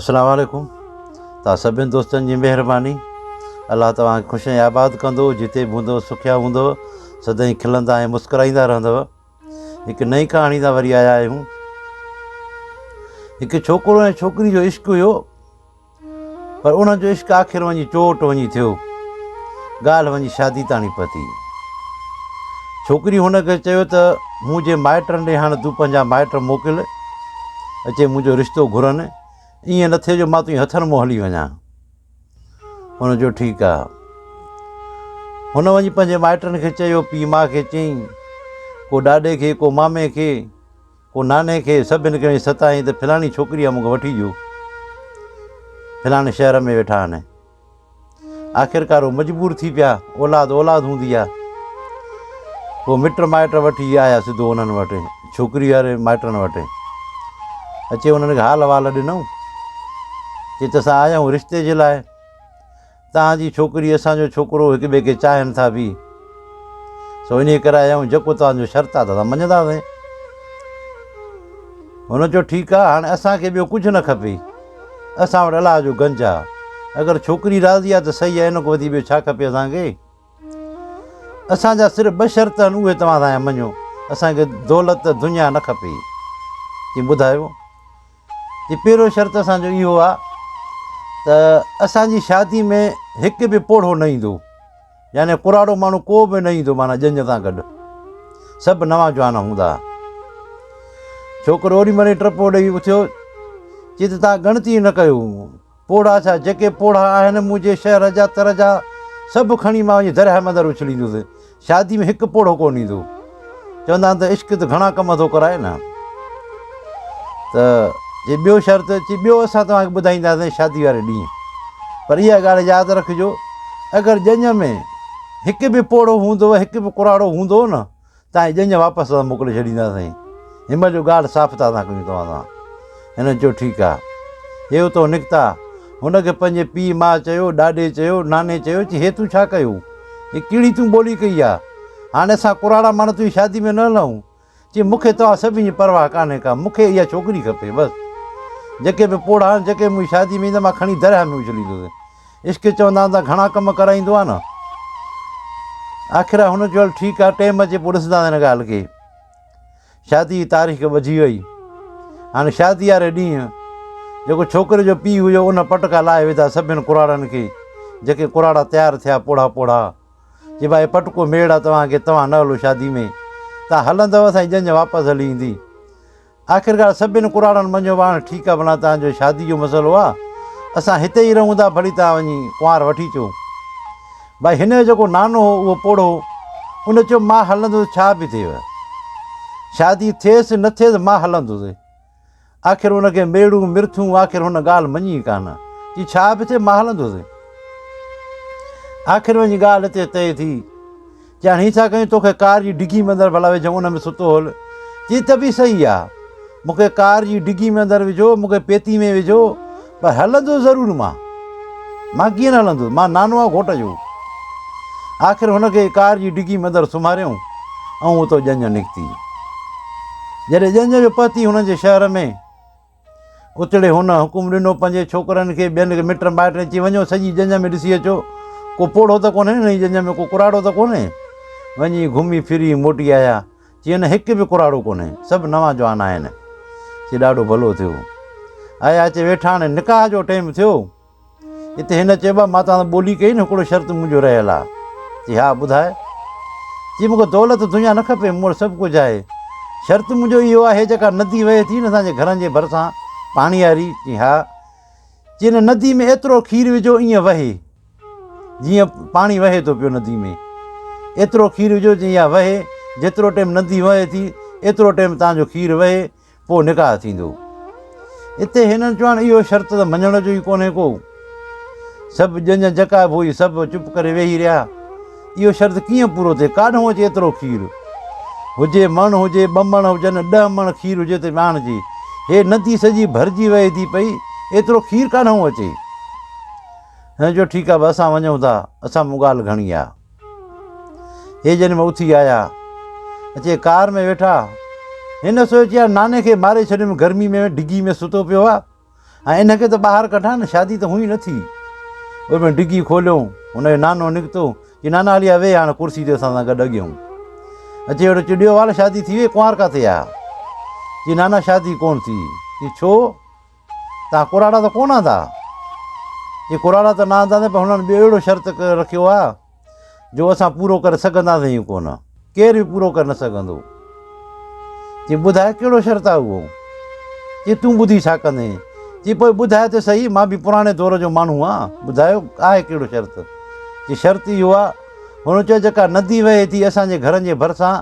اسلام عليڪم توهان سڀني دوستن جي مهرباني الله توهان کي خوش ۽ آباد ڪندو جتي به هوندو سکيا هوندو سدائين کلندا ۽ مسڪرائيندا رهندو هڪ نئين ڪهاڻي سان وري آيا آهيون هڪ ڇوڪرو ۽ ڇوڪري جو عشق هيو پر انهن جو عشق آخر وڃي چوٽ وڃي ٿيو ڳالهه وڃي شادي تاڻي پتي ڇوڪري هن کي چيو ته مون جي مائٽن ڏي هاڻي تون پنهنجا مائٽ موڪل اچي منهنجو رشتو گهرن ائين نه ٿئي جو مان تنهنجي هٿن منهن هلي وڃان هن چيو ٺيڪ آ هن وڃي پنهنجي مائٽن کي چيو پي ماء کي چيائين ڪو ڏاڏي کي ڪو مامي کي ڪو ناني کي سڀني کي ستائين ته فلاني ڇوڪري آ مونکي وٺي ڏيو فلاني شهر ۾ ويٺا آهن آخرڪار هو مجبور ٿي پيا، اولاد اولاد هوندي آ. پوء مٽ مائٽ وٺي آيا سڌو انهن وٽ، ڇوڪري واري مائٽن وٽ. اچي انهن کي حال احوال ڏنائون. چيس ته اسان آيا آهيون رشتي جي لاء. توهان جي ڇوڪري اسان جو ڇوڪرو هڪ ٻئي کي چاهين ٿا ڀي. سو انهيء ڪري آيا آهيون جيڪو توهان جو شرط آ ته اسان مڃيندا سين. هن چيو ٺيڪ آ هاڻي اسان کي ٻيو ڪجهه نه کپي. اسان وٽ الله جو گنج آ. اگر ڇوڪري راضي آ ته سهي آ ان کان وڌيڪ ٻيو ڇا کپي اسان کي. اسان جا صرف ٻه شرط آهن اهي توهان اسان جا مڃو. اسان کي دولت دنيا نه کپي. چي ٻڌايو. چي پهريون شرط اسان جو اهو آ ته اسان جي شادي ۾ هڪ به پوڙهو نه ايندو. يعني پراڙو ماڻهو ڪو به نه ايندو معنيٰ ڄڃ سان گڏ سڀ نوان جوان هوندا ها. ڇوڪرو اوڏي مهل ئي ٽپو ڏئي اٿيو چي ته تان ڳڻتي نه ڪيو پوڙها ڇا جيڪي پوڙها آهن منهنجي شهر جا تر جا سڀ کڻي مان وڃي درياهه مندر اڇليندس شادي ۾ هڪ پوڙهو ڪونه ايندو. چوندا آهن ته عشق ته گهڻا ڪم ٿو ڪرائي نه ته جي ٻيو شرط اچي ٻيو اسان توهان کي ٻڌائينداسين شادي واري ڏينهن پر اها ڳالهه ياد رکجو اگر ڄڃ ۾ هڪ به پوڙهو هوندو هڪ به ڪراڙو هوندو نه تانجي ڄڃ واپس موڪلي ڇڏينداسين هن مهل جو ڳالهه صاف ٿا ڪيون توهان سان هن چيو، ٺيڪ آ. هي اتئون نڪتا. هن کي پنهنجي پيء ماء چيو، ڏاڏي چيو، ناني چيو چي هي تون ڇا ڪيو؟ هي ڪهڙي تون ٻولي ڪئي آ؟ هاڻي اسان ڪراڙا ماڻهو تنهنجي شادي ۾ نه هلئون. چي مون کي توهان سڀني جي پرواهه ڪانهي ڪا. مون کي اها ڇوڪري کپي بس. جيڪي به پوڙها آهن، جيڪي به منهنجي شادي ۾ ايندو مان کڻي درياهه ۾ اڇليندس. عشق چوندا هوندا گهڻا ڪم ڪرائيندو آ نه. آخر هن چيو هل ٺيڪ آ، ٽيم اچي پوء ڏسنداسين هن ڳالهه کي. شادي جي تاريخ ٻڌي وئي. هاڻي شادي واري ڏينهن جيڪو ڇوڪري جو پيء هيو ان پٽڪا لاهي وڌا سڀني ڪراڙن کي جيڪي ڪراڙا تيار ٿيا پوڙها پوڙها چي ڀائي پٽڪو ميڙ آ توهان کي توهان نه هلو شادي ۾ توهان هلندو اسان جي ڄڃ واپس هلي ايندي آخرڪار سڀني ڪراڙن مڃيو ڀاڻ ٺيڪ آ ڀلا توهان جو شادي جو مسئلو آ اسان هتي ئي رهون ٿا ڀلي توهان وڃي ڪنوار وٺي چو ڀائي هن جو جيڪو نانو هو اهو پوڙهو هو. ان چيو مان هلندس ڇا به ٿئيو. شادي ٿئيس نه ٿئيس مان هلندس. آخر ان کي ميڙون مرٿون آخر هن ڳالهه مڃي ڪانه. چي ڇا به ٿئي مان هلندس. آخر وڃي ڳالهه هتي طئي ٿي. چي هاڻي هي ڇا ڪيون توکي ڪار جي ڊگي ۾ اندر ڀلا وجهيم ان ۾ ستو هل. چي ته به صحيح آ. مونکي ڪار جي ڊگي ۾ اندر وجهو مونکي پيتي ۾ وجهو. پر هلندس ضرور مان. مان ڪيئن نه هلندس، مان نانو آهيان گهوٽ جو. آخر هن کي ڪار جي ڊگي ۾ اندر سمهاريائون ۽ اتو ڄڃ نڪتي. جڏهن ڄڃ جو پهتي هن جي شهر ۾، اتڙي هن حڪم ڏنو پنهنجي ڇوڪرن کي، ٻين کي مٽ مائٽن چي وڃو سڄي ڄڃ ۾ ڏسي اچو، ڪو پوڙهو ته ڪونهي، هن جي ڄڃ ۾ ڪو ڪراڙو ته ڪونهي. وڃي گهمي ڦري موٽي آيا ۽ چيو نه هڪ به ڪراڙو ڪونهي، سڀ نوان جوان آهن. چي ڏاڍو ڀلو ٿيو. آيا اچي ويٺا هاڻي نڪاح جو ٽيم ٿيو. اتي هن چيو مان توهان سان ٻولي ڪئي نه هڪڙو شرط منهنجو رهيل آهي. چي ها ٻڌاء. چي مون کي دولت دنيا نه کپي مون وٽ سڀ ڪجهه آهي. شرط منهنجو اهو آهي جيڪا ندي وهي ٿي نه اسان جي گهرن جي ڀرسان پاڻياري. چي ها. چي ان ندي ۾ ايترو کير وجهو ائين وهي. جيئن پاڻي وهي ٿو پيو ندي ۾، ايترو کير وجهو جيئن اها وهي، جيترو ٽيم ندي وهي ٿي، ايترو ٽيم تان جو کير وهي، پوء نڪاح ٿيندو. اتي هنن چيو هاڻ اهو شرط ته مڃڻ جو ئي ڪونهي ڪو. سڀ ڄڃ جکا ڀوئي سڀ چپ ڪري ويهي رهيا. اهو شرط ڪيئن پورو ٿئي، ڪاڏهون اچي ايترو کير؟ هجي مڻ هجي، ٻه مڻ هجن، ڏهه مڻ کير هجي ته ٻياڻ جي. هي ندي سڄي ڀرجي وهي ٿي پئي، ايترو کير ڪاڏهون اچي؟ هن چيو، ٺيڪ آهي، اسان وڃون ٿا، اسان مون ڳالهه گهڻي آهي. هي جن ۾ اٿي آيا، اچي ڪار ۾ ويٺا. هن سوچيو يار ناني کي ماري ڇڏيم، گرمي ۾ ڊگهي ۾ ستو پيو آهي ۽ ان کي ته ٻاهر ڪڍان نه، شادي ته هونئن ئي نه ٿي. ان ۾ ڊگهي کوليو، هن جو نانو نڪتو، چيو نانا هليا ويهه هاڻ ڪرسي تي اسان سان گڏ اڳيون. اچي ويٺو، چيو ڏيو وال شادي ٿي وئي، ڪنوار ڪاٿي آهي؟ چيو نانا شادي ڪونه ٿي. چيو ڇو؟ تان ڪراڙا ته ڪونه آندا؟ چي ڪراڙا ته نه آنداسين پر هنن ٻيو اهڙو شرط رکيو آهي جو اسان پورو ڪري سگهنداسين ئي ڪونه. ڪير به پورو ڪري نه سگهندو. چي ٻڌاء ڪهڙو شرط آهي اهو؟ چي تون ٻڌي ڇا ڪندين؟ چي پوء ٻڌاء ته سهي مان به پراڻي دور جو ماڻهو آهيان ٻڌاء آهي ڪهڙو شرط؟ چي شرط اهو آهي هن چيو جيڪا ندي وهي ٿي اسان جي گهرن جي ڀرسان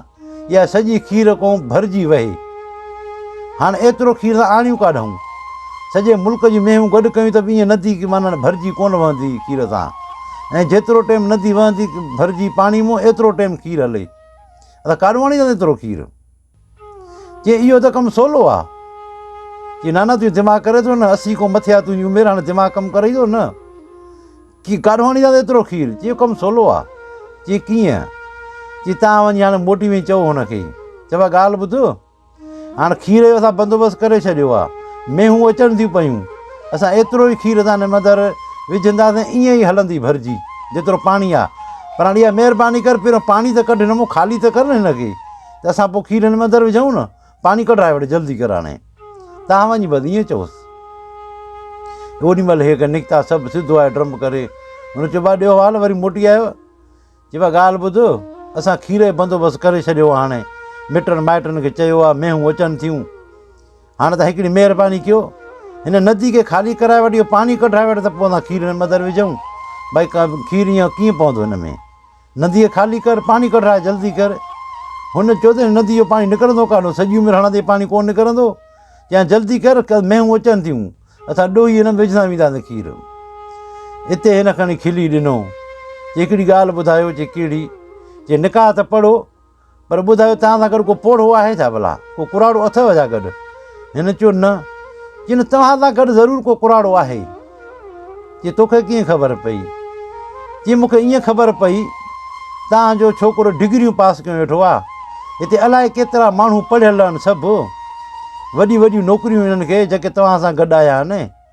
اها سڄي کير ڪون ڀرجي وهي. هاڻ ايترو کير ته آڻيون ڪاڏهون. سڄي ملڪ جون مينهون گڏ ڪيون ته به ايئن ندي ڪي مانڻ ڀرجي ڪونه وهندي کير سان. ۽ جيترو ٽيم ندي وهندي ڀرجي پاڻي مون ايترو ٽيم کير هلي. اسان ڪاڏهون آڻينداسين ايترو کير؟ چي اهو ته ڪم سولو آ. چي نانا تون دماغ ڪري ٿو نه اسي ڪون مٿياتون جي عمر هاڻي دماغ ڪم ڪري ٿو نه. چي ڪاروهاڻي دادا ايترو کير؟ چي اهو ڪم سولو آ. چي ڪيئن؟ چي تان وڃي هاڻي موٽي وڃي چئو هن کي. چي ڀا ڳالهه ٻڌ هاڻي کير جو اسان بندوبست ڪري ڇڏيو آ. مينهون اچن ٿيون پيون. اسان ايترو ئي کير اسان هن اندر وجهنداسين ائين ئي هلندي ڀرجي جيترو پاڻي آ. پر هاڻي اها مهرباني ڪر پهريون پاڻي ته ڪڍ هن مان خالي ته ڪر نه هن کي ته اسان پوء کير هن اندر وجهون نه. پاڻي ڪڍائي وٺ جلدي ڪر هاڻي. تان وڃ بس ائين چوس. اوڏي مهل هيڪ نڪتا سڀ سڌو آيو ڊرم ڪري هن چيو با ڏيو حال وري موٽي آيو چي با ڳالهه ٻڌ اسان کير جو بندوبست ڪري ڇڏيو آهي هاڻي مٽن مائٽن کي چيو آهي مينهون اچن ٿيون هاڻي تان هڪڙي مهرباني ڪيو هن ندي کي خالي ڪرائي وٺ اهو پاڻي ڪڍائي وٺ ته پوء اسان کير هن مدر وجھون بھائی کير ائين ڪيئن پوندو هن ۾ نديء خالي ڪر، پاڻي ڪڍراء جلدي ڪر. هن چيو ته نديء جو پاڻي نڪرندو ڪانه، سڄي عمر هڻندي پاڻي ڪونه نڪرندو، چيائين جلدي ڪر، ڪل مينهون اچن ٿيون، اسان ڏوهي هن ۾ وجهندا وينداسين کير. اتي هن کڻي کلي ڏنو، چي هڪڙي ڳالهه ٻڌايو، چي ڪهڙي؟ چي نڪاح ته پڙهو. پر ٻڌايو توهان سان گڏ ڪو پوڙهو آهي ڇا ڀلا؟ ڪو ڪراڙو اٿئو ڇا گڏ؟ هن چيو نه. چيائين توهان سان گڏ ضرور ڪو ڪراڙو آهي. چي توکي ڪيئن خبر پئي؟ چي مون کي ائين خبر پئي توهان جو ڇوڪرو ڊگريون پاس ڪيون ويٺو آ. هتي الائي ڪيترا ماڻهو پڙهيل آهن سڀ. وڏيون وڏيون نوڪريون انهن کي جيڪي توهان سان گڏ آيا آهن.